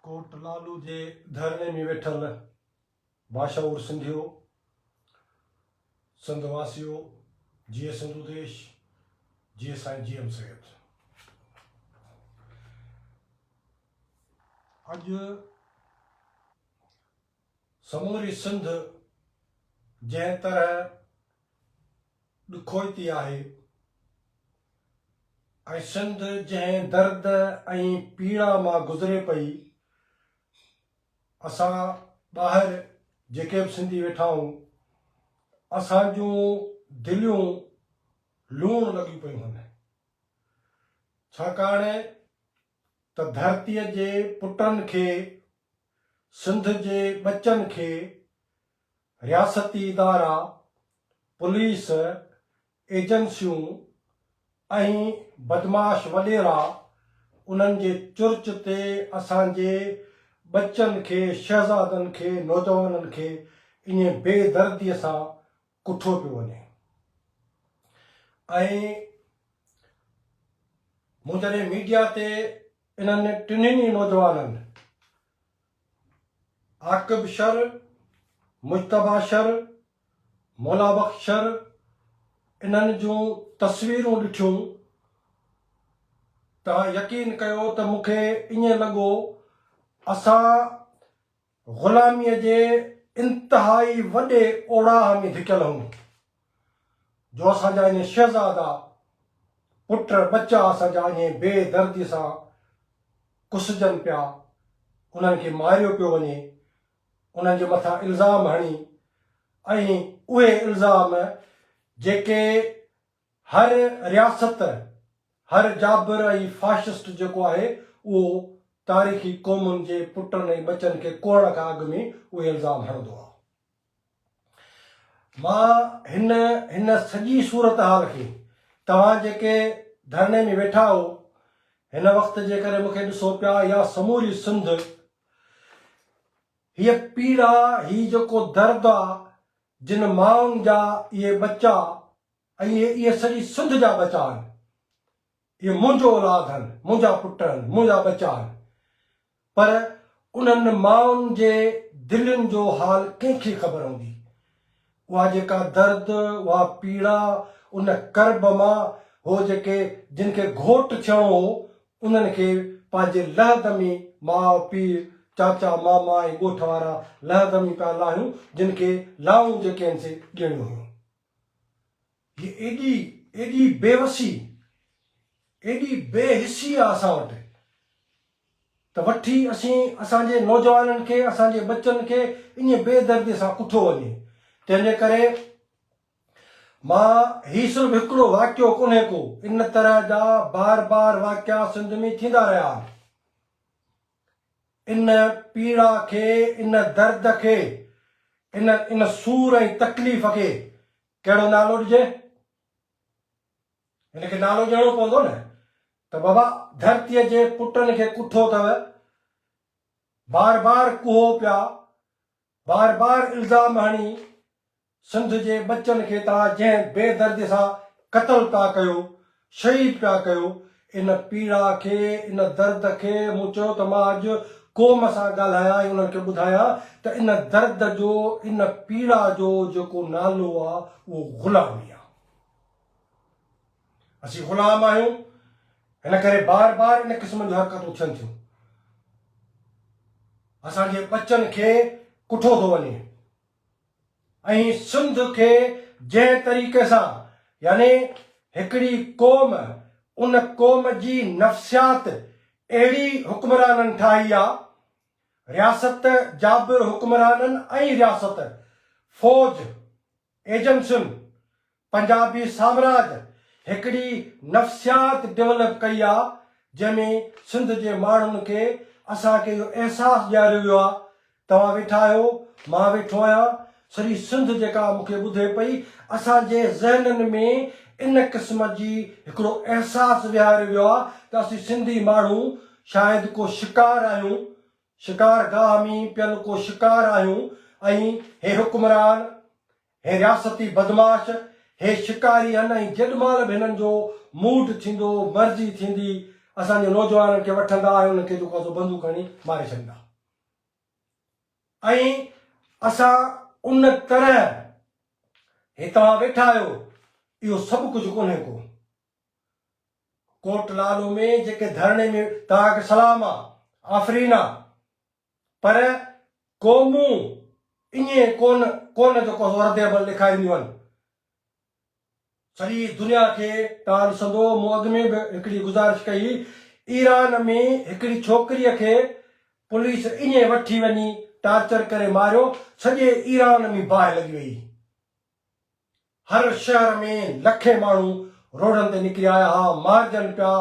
ڪوٽ لالو جي ڌرڻي ۾ ويٺل باشعور سنڌيو، سنڌ واسيو، جيئي سنڌو ديش، جيئي سائين جي ايم سيد. اڄ سموري سنڌ جنهن طرح ڏکوئتي آهي ۽ سنڌ جنهن درد ۽ پيڙا مان گذري پئي، اسان ٻاهر جيڪي به سنڌي ويٺا آهيون، اسان جون دليون لوڻ لڳيون پيون هن، ڇاڪاڻ ته ڌرتيء جي پٽن کي، سنڌ جي ٻچن کي رياستي ادارا، پوليس، ايجنسيون ۽ بدمعاش وڏيرا انهن جي چرچ تي اسان جي ٻچن کي، شهزادن کي، نوجوانن کي اڃي بي درديء سان ڪٿو پيو وڃي ۽ مون جڏهن ميڊيا تي انهن ٽنهن ئي نوجوانن عاقب شر، مجتبيٰ شر، مولابخش شر انهن جون تصويرون ڏٺيون ته يقين ڪيو ته مون کي ائين لڳو اسان غلاميء جي انتهائي وڏي اوڙاهه ۾ ڌڪيل هئون، جو اسان جا اهي شهزادا، پٽ ٻچا اسان جا اهي بي درديء سان ڪسجن پيا، انهن کي ماريو پيو وڃي، انهن جي مٿان الزام هڻي ۽ اهي الزام جيڪي هر رياست، هر جابر ۽ فاشسٽ جيڪو آهي اهو تاريخي قومن جي پٽن ۽ ٻچن کي ڪوڙڻ کان اڳ ۾ اهي الزام هڻندو آهو. مان هن هن سڄي صورتحال کي توهان جيڪي ڌرڻي ۾ ويٺا آهو هن وقت جي ڪري مونکي ڏسو پيا يا سموري سنڌ هيء پيڙا هي جيڪو درد آ جن مائن جا اهي ٻچا اهي اهي سڄي سنڌ جا ٻچا هن. اهي منهنجو اولاد هن، منهنجا پٽ هن، منهنجا ٻچا هن. پر انهن مائن جي دلين جو حال ڪنهن کي خبر هوندي؟ اها جيڪا درد، اها پيڙا، ان ڪرب مان هو جيڪي جن کي گهوٽ ٿيڻو هو، انهن کي پنهنجي لهدمي ماء پيء، چاچا ماما ۽ ڳوٺ وارا لهدمي پيا لاهيون، جن کي لائون جيڪي هن سي ڏيڻيون هيون. هي ايڏي ايڏي بيوسي، ايڏي بي حسي آ اسان وٽ ته وٺي اسين اسان جي نوجوانن کي اسان جي ٻچن کي اڃي بي دردي سان اٺو وڃي تنهن جي ڪري مان هي صرف هڪڙو واقعو ڪونهي ڪو ان طرح جا بار بار واقعا سنڌ ۾ ٿيندا رهيا آهن. ان پيڙا کي، ان درد کي، ان ان سور ۽ تڪليف کي ڪهڙو نالو ڏجي؟ هن کي نالو ڏيڻو پوندو نه ته بابا ڌرتيء جي پٽن کي ڪٺو اٿو، بار بار ڪهو پيا بار بار الزام هڻي سنڌ جي ٻچن کي ٿا جنهن بي دردي سان قتل پيا ڪيو شهيد پيا ڪيو ان پيڙا کي ان درد کي مون چيو ته مان اڄ قوم سان ڳالهايان ۽ انهن کي ٻڌايان ته ان درد جو ان پيڙا جو جيڪو نالو آهي اهو غلامي آهي. اسين غلام آهيون، ان ڪري بار بار ان قسم جون حرڪتون ٿين ٿيون. اسان جي ٻچن کي ڪٺو ٿو وڃي ۽ سنڌ کي جنهن طريقي سان يعني هڪڙي قوم ان قوم جي نفسيات اهڙي حڪمرانن ٺاهي آ رياست جابر حڪمرانن ۽ رياست فوج ايجنسين پنجابي سامراج هڪڙي نفسيات ڊولپ ڪئي آ جنهن ۾ سنڌ جي ماڻهن کي اسان کي اهو احساس ڏياريو ويو آ توهان ويٺا آهيو مان ويٺو آهيان سڄي سنڌ جيڪا مون کي ٻڌي پئي اسان جي ذهنن ۾ ان قسم جي هڪڙو احساس ويهاريو ويو آ ته اسين سنڌي ماڻهو شايد ڪو شڪار آهيون شڪار گاهه ۾ پيل ڪو شڪار آهيون ۽ هي حڪمران هي رياستي بدمعاش، هي شڪاري هن ۽ جيڏمهل به هنن جو موڊ ٿيندو، مرضي ٿيندي، اسان جي نوجوانن کي وٺندا ۽ انهن کي جيڪو آهي سو بندوق هڻي ماري ڇڏيندا ۽ اسان ان طرح هي توهان ويٺا آهيو اهو سڀ ڪجهه ڪونهي ڪو ڪوٽ لالو ۾ جيڪي ڌرڻي ۾ توهان کي سلام آ، آفرين آ. پر قومون ائين ڪونه ڪونه جو ڪو رد عمل ڏيکارينديون آهن. سڄي دنيا کي تان ڏسندو، مون اڳ ۾ به هڪڙي گذارش ڪئي ايران ۾ هڪڙي ڇوڪريء کي پوليس ائين وٺي وڃي ٽارچر ڪري ماريو سڄي ايران ۾ باهه لڳي ويئي. هر شهر ۾ لکين ماڻهو روڊن تي نڪري آيا ها، مارجن پيا،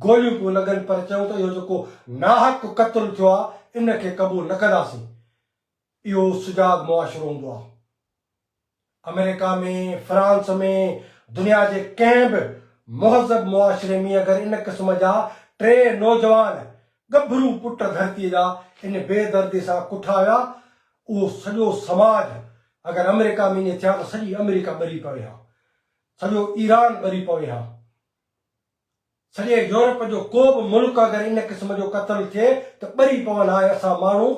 گوليون پيون لڳن پر چيون ته اهو جيڪو ناحق قتل ٿيو آهي ان کي قبول نه ڪنداسين. اهو سجاڳ معاشرو هوندو آهي. آمريڪا ۾ فرانس ۾ دنيا جي ڪنهن به مهذب معاشري ۾ اگر ان قسم جا ٽي نوجوان ڳڀرو پٽ ڌرتيء جا ان بي دردي سان ڪٺا ويا، اهو سڄو سماج اگر آمريڪا ۾ ائين ٿيا ته سڄي آمريڪا ٻري پوي ها، سڄو ايران ٻري پوي ها، سڄي يورپ جو ڪو به ملڪ اگر ان قسم جو قتل ٿئي ته ٻري پون ها ۽ اسان ماڻهو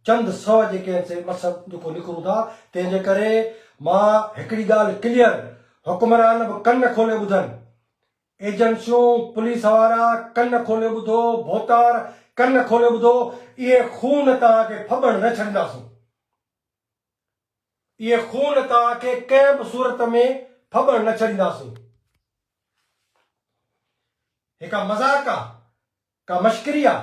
چند سو جيڪي هن سي مس جيڪو نڪرون ٿا، تنهن جي ڪري مان هڪڙي ڳالهه ڪليئر حڪمران به ڪن کولي ٻڌن ايجنسيون، پوليس وارا، ڪن کولي ٻڌو، ڀوتار، ڪن کولي ٻڌو، اهي خون توهان کي ڦٻڻ نه ڇڏينداسون. اهي خون توهان کي ڪنهن به صورت ۾ ڦٻڻ نه ڇڏينداسون. هي ڪا مذاق آ؟ ڪا مشڪري آ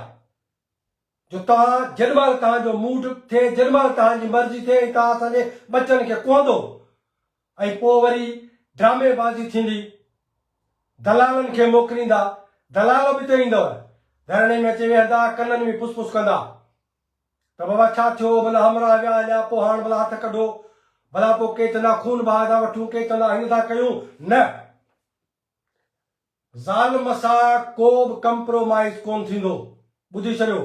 جو توهان جيڏ مهل توهان جو موڊ ٿئي جيڏ مهل توهان جي مرضي ٿئي ۽ توهان اسان جي ٻچن کي ڪوهندو ۽ پوء وري ڊرامي بازي ٿيندي دلالن کي موڪليندا دلال به ته ايندؤ ڌرڻي ۾ اچي ويهندا ڪنن ۾ پس پس ڪندا ته بابا ڇا ٿيو ڀلا همراهه ويا هليا پوء هاڻ ڀلا هٿ ڪڍو ڀلا پوء ڪي چوندا خون بهاء ٿا وٺون ڪي چوندا هيئن ٿا ڪيون نه ظالم سان ڪوبه ڪمپرومائيز ڪون ٿيندو ٻڌي ڇڏيو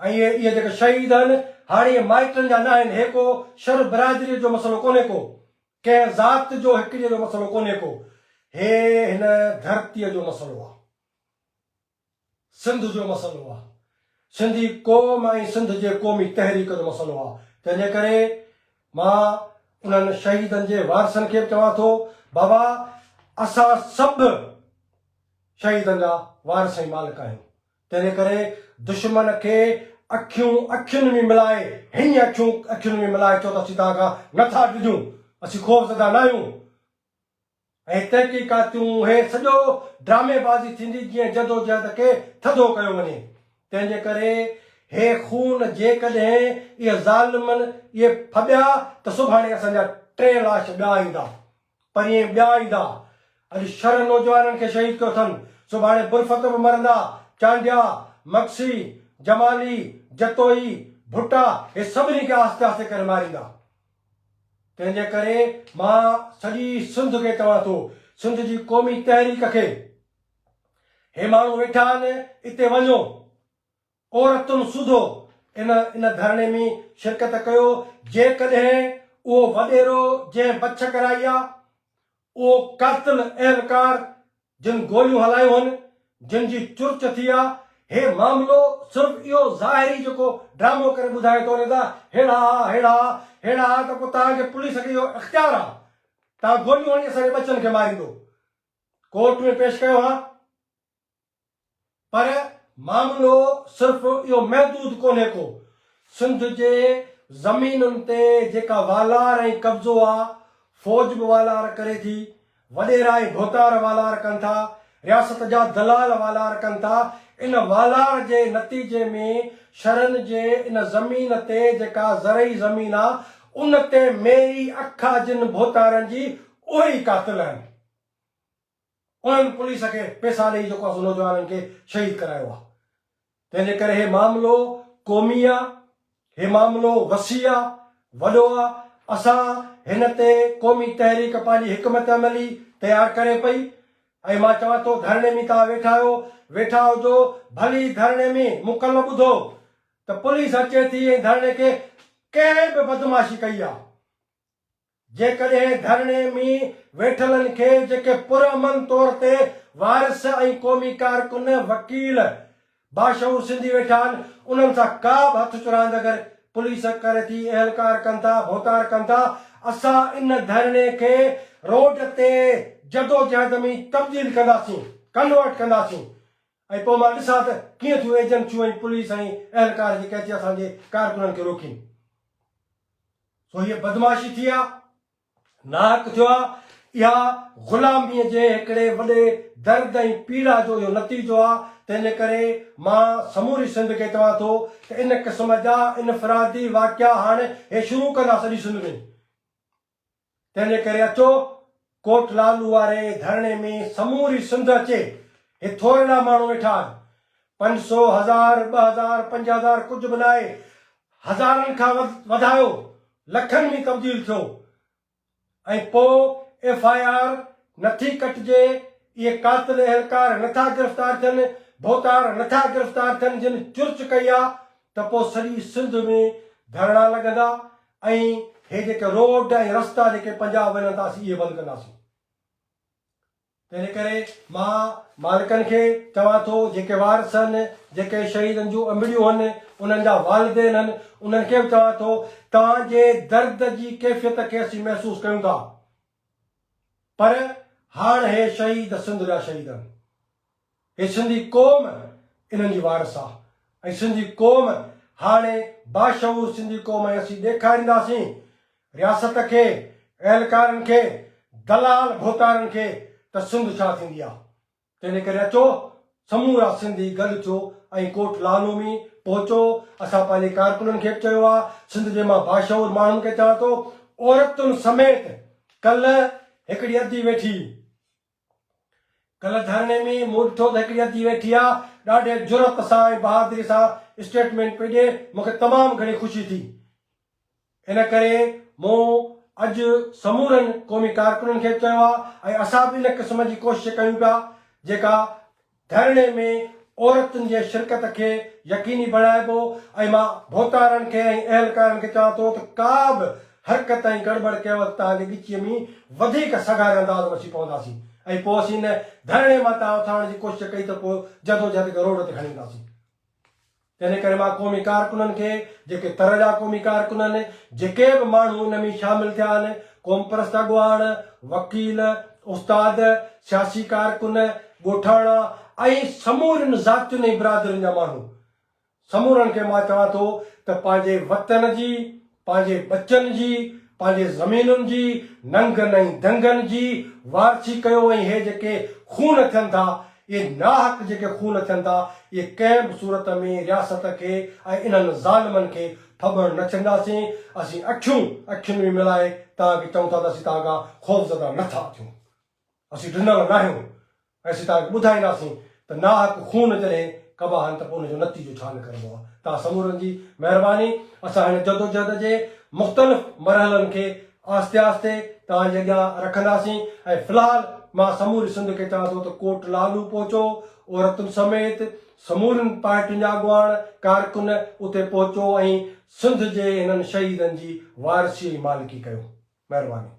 ۽ اهي اهي جيڪي شهيد هن هاڻي اهي مائٽن جا ناهن هي ڪو شر برادري جو مسئلو ڪونهي ڪو ڪنهن ذات جو هڪجي جو مسئلو ڪونهي ڪو هي هن ڌرتي جو مسئلو آ. سنڌ جو مسئلو آ. سنڌي قوم ۽ سنڌ جي قومي تحريڪ جو مسئلو آ. تنهن جي ڪري مان انهن شهيدن جي وارثن کي به چوان ٿو بابا اسان سڀ شهيدن جا وارث ۽ مالڪ آهيون. تنهن جي ڪري دشمن کي اکيون اکين ۾ ملائي هينئن اکيون اکين ۾ ملائي چئو ته اسين توهان کان نه ٿا ڊڄون. اسين خوف زده ناهيون. اهي تحقيقاتيون، اهي سڄو ڊرامي بازي ٿيندي جيئن جدوجهد کي ٿڌو ڪيو وڃي. تنهن جي ڪري هي خون جيڪڏهن اهي ظالمن اهي ڦٻيا ته سڀاڻي اسان جا ٽي لاش ٻيا ايندا. پرينء ٻيا ايندا. اڄ شرح نوجوانن کي شهيد ڪيو اٿن. سڀاڻي برفت به مرندا. چانڊيا، مگسي، جمالي، جتوئي، ڀٽا هي سڀني کي آهستي آهستي ڪري ماريندا. تنهنجي ڪري مان سڄي سنڌ کي چوان ٿو، سنڌ جي قومي تحريڪ کي، هي ماڻهو ويٺا آهن اتي وڃو، عورتن سوڌو ان ان ڌرڻي ۾ شرڪت ڪيو، جيڪڏهن اهو وڏيرو جنهن بڇ ڪرائي آ، اهو ڪرتن اهلڪار جن گوليون هلايون هن جن جي چرچ ٿي آ هي معاملو صرف اهو ظاهري جيڪو ڊرامو ڪري ٻڌائي ٿو ني ته ههڙا آ ههڙا آ ههڙا آ ته پوء توهان جي پوليس کي اهو اختيار آ توهان گوليون هڻي اسان جي ٻچن کي ماريندو ڪورٽ ۾ پيش ڪيو ها پر معاملو صرف اهو محدود ڪونهي ڪو، سنڌ جي زمينن تي جيڪا والار ۽ قبضو آ، فوج به والار ڪري ٿي، وڏيرا ۽ ڀوتار والار ڪن ٿا، رياست جا دلال والار ڪن ٿا، ان والار جي نتيجي ۾ شھرن جي ان زمين تي جيڪا زرعي زمين آ، ان تي ميري اکا جن ڀوتارن جي اهي ئي قاتل آهن. انهن پوليس کي پئسا ڏئي جيڪو اسان نوجوانن کي شهيد ڪرايو آ تنهن جي ڪري هي معاملو قومي آ هي معاملو وسيع آ وڏو آ اسان هن تي قومي تحريڪ پنهنجي حڪمت عملي تيار ڪري پئي ۽ مان چوان ٿو ڌرڻي ۾ توهان ويٺا آهيو ويٺا هجو ڀلي ڌرڻي ۾ مونکن نه ٻڌو ته پوليس اچي ٿي ۽ ڌرڻي کي ڪنهن به بدمعاشي ڪئي آ. جيڪڏهن ڌرڻي ۾ ويٺلن کي جيڪي پرامن طور تي وارث ۽ قومي ڪارڪن، وڪيل، باشعور سنڌي ويٺا آهن انهن سان ڪا به هٿ چراند اگر پوليس ڪري ٿي، اهلڪار ڪن ٿا، ڀوتار ڪن ٿا، اسان ان ڌرڻي کي روڊ تي جدوجهد ۾ تبديل ڪنداسين، Convert، ڪنداسين، ۽ پوء مان ڏسان ته ڪيئن ٿيون ايجنسيون ۽ پوليس ۽ اهلڪار جيڪي اچي اسان جي ڪارڪنن کي روڪين. سو هيء بدمعاشي ٿي آ، ناحق ٿيو آ، اها غلاميء جي هڪڙي وڏي درد ۽ پيڙا جو اهو نتيجو آ، تنهن جي ڪري مان سموري سنڌ کي چوان ٿو ته ان قسم جا انفرادي واقعا هاڻ هي شروع ڪندا سڄي سنڌ ۾. تنهنجي ڪري اچو ڪوٽ لالو واري ڌرڻي ۾ سموري سنڌ اچي هي ٿورڙا ماڻهو ويٺا آهن پنج سو هزار ٻه هزار پنج هزار ڪجهه به ناهي هزارن کان وڌايو لکن ۾ تبديل ٿيو ۽ پو ايف آء آر نٿي ڪٽجي اهي قاتل اهلڪار نٿا گرفتار ٿين ڀوتار نٿا گرفتار ٿين جن چرچ ڪئي آ ته پو سڄي سنڌ ۾ ڌرڻا لڳندا ۽ هي جيڪي روڊ ۽ رستا جيڪي پنجاب وڃن ٿا اسين اهي بند ڪنداسين. تنهن ڪري مان مالڪن کي چوان ٿو جيڪي وارث هن جيڪي شهيدن جون امڙيون هن انهن جا والدين هن انهن کي به چوان ٿو توهان جي درد جي ڪيفيت کي اسين محسوس ڪيون ٿا. پر هاڻ هي شهيد سنڌ جا شهيد آهن. هي سنڌي قوم انهن جي وارث آ ۽ سنڌي قوم هاڻي باشعور سنڌي قوم ۽ اسين ڏيکارينداسين رياست کي، اهلڪارن کي، دلال ڀوتارن کي ته سنڌ ڇا ٿيندي آ. تنهن ڪري اچو سمورا سنڌي گڏ ٿيو ۽ ڪوٽ لالو ۾ پهچو اسان پنهنجي ڪارڪنن کي به چيو آهي سنڌ جي مان باشعور ماڻهن کي چوان ٿو عورتن سميت ڪلهه هڪڙي ادي ويٺي ڪلهه ڌرڻي ۾ مون ڏٺو ته هڪڙي ادي ويٺي آهي ڏاڍي جرئت سان ۽ بهادري سان اسٽيٽمينٽ پئي ڏي مونکي تمام گهڻي خوشي ٿي. ان ڪري مون اڄ سمورن قومي ڪارڪنن کي به چيو آهي ۽ اسان به ان قسم جي ڪوشش ڪيون پيا جيڪا ڌرڻي ۾ عورتن جي شرڪت کي يقيني بڻائبو ۽ مان ڀوتارن کي ۽ اهلڪارن کي چوان ٿو ته ڪا به حرڪت ۽ گڙٻڙ ڪيو ته توهان جي ڳچيء ۾ وڌيڪ سگهاري انداز ۾ اسين پونداسين ۽ پوء اسين ان ڌرڻي مان توهان اٿارڻ جي ڪوشش ڪئي ته پوء جدوجهد کي روڊ تي کڻي اينداسين. تنهن ڪري مان قومي ڪارڪنن کي، جيڪي تر جا قومي ڪارڪن آهن، جيڪي به ماڻهو ان ۾ شامل ٿيا آهن، قومپرست اڳواڻ، وڪيل، استاد، سياسي ڪارڪن، ڳوٺاڻا ۽ سمورين ذاتين ۽ برادرين جا ماڻهو، سمورن کي مان چوان ٿو ته پنهنجي وطن جي پنهنجي ٻچن جي، پنهنجي زمينن جي، ننگن ۽ دنگن جي وارثي ڪيو ۽ هي جيڪي خون ٿين ٿا، اهي ناحق جيڪي خون ٿين ٿا، اهي ڪنهن به صورت ۾ رياست کي ۽ انهن ظالمن کي ڦٻڻ نه ڇڏنداسين، اسين اکيون اکين ۾ ملائي توهان کي چئون ٿا ته اسين توهان کان خوفزده نه ٿا ٿيون، اسين ڊنل ناهيون، اسين توهان کي ٻڌائينداسين ته ناحق خون جڏهن ڪبا آهن ته پوء ان جو نتيجو ڇا نڪرندو آهي. توهان سمورن جي مهرباني. اسان هن جدوجهد جي مختلف مرحلن کي آهستي آهستي توهان جي اڳيان رکنداسين ۽ في الحال مان سموري سنڌ کي چوان ٿو ته ڪوٽ لالو پهچو، عورتن سميت سمورين پارٽين جا اڳواڻ، ڪارڪن اتي پهچو ۽ سنڌ جي هنن شهيدن جي وارثي ۽ مالڪي ڪيو. مهرباني.